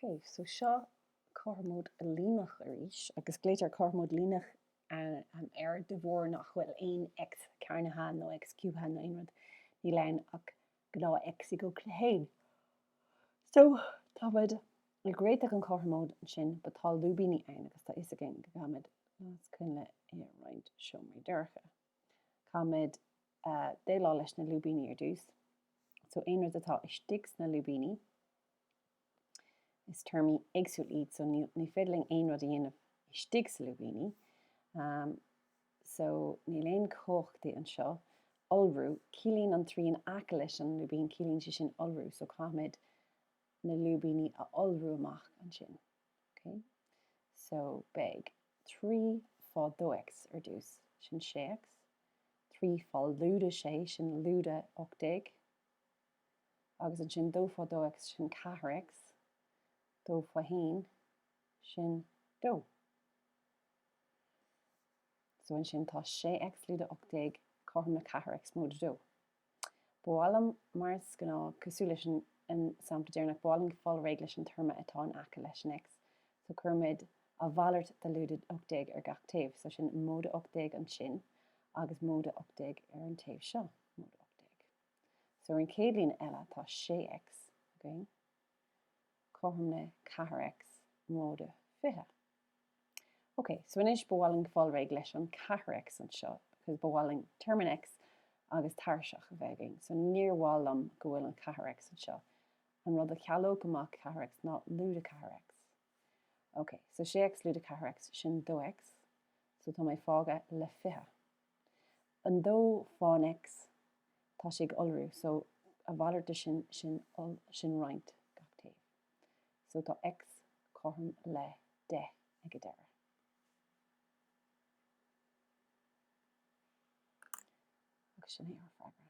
Ok, so seo cothromóid líneach arís, agus glaoitear cothromóid líneach air de bharr nach bhfuil aon X cearnaithe nó X ciúbaithe nó aon rud, níl ann ach gnáth X ag 1. So, táimid ag réiteach an cothromóid sin, but tá lúibíní ann agus tá a fhios againn go gcaithimid las coinnle i roinnt seomraí dorcha. Caithimid déileáil leis na lúibíní ar dtús. So, aon rud atá istigh sna lúibíní, Is téarmaí éagsúil iad so ní féidir linn aon rud a dhéanamh istigh sa lúibíní. So níl aon chumhachtaí anseo. Iolrú, ciallaíonn an trí in aice leis an lúibín, ciallaíonn sé sin iolrú. So caithfimid na lúibíní a iolrú amach ansin. Ok? So beidh trí fá dó X ar dtús, sin sé X. Trí fá lúide sé, sin lúide 18. agus ansin dó fá dó X sin ceathair X dó fá haon sin dó so ansin tá sé X lúide ocht déag cothrom le ceathair X móide dó. Ba mhaith liom mar is gnáth cosúil leis an sampla deireanach ba mhaith liom fáil réidh leis an téarma atá in aice leis an X so cuirimid a mhalairt de lúide ocht déag ar gach taobh so sin móide ocht déag ansin agus móide ocht déag ar an taobh seo móide ocht déag. So ar an chéad líne eile tá 6 X againn, cothrom le ceathair X móide fiche. Ok, so anois ba mhaith linn fáil réidh leis an ceathair X anseo, because ba mhaith linn téarma in X agus tairiseach a bheith againn. So níor mhaith liom go bhfuil an ceathair X anseo. An rud a chealódh amach ceathair X ná lúide ceathair X. Ok, so 6 X lúide ceathair X sin dó X, so tá mé fágtha le fiche. An dó fán X, tá sé ag iolrú, so a mhalairt de sin, sin iol, sin roinnt gach taobh, so tá X cothrom le 10 ag an deireadh. Agus sin é ár bhfreagra.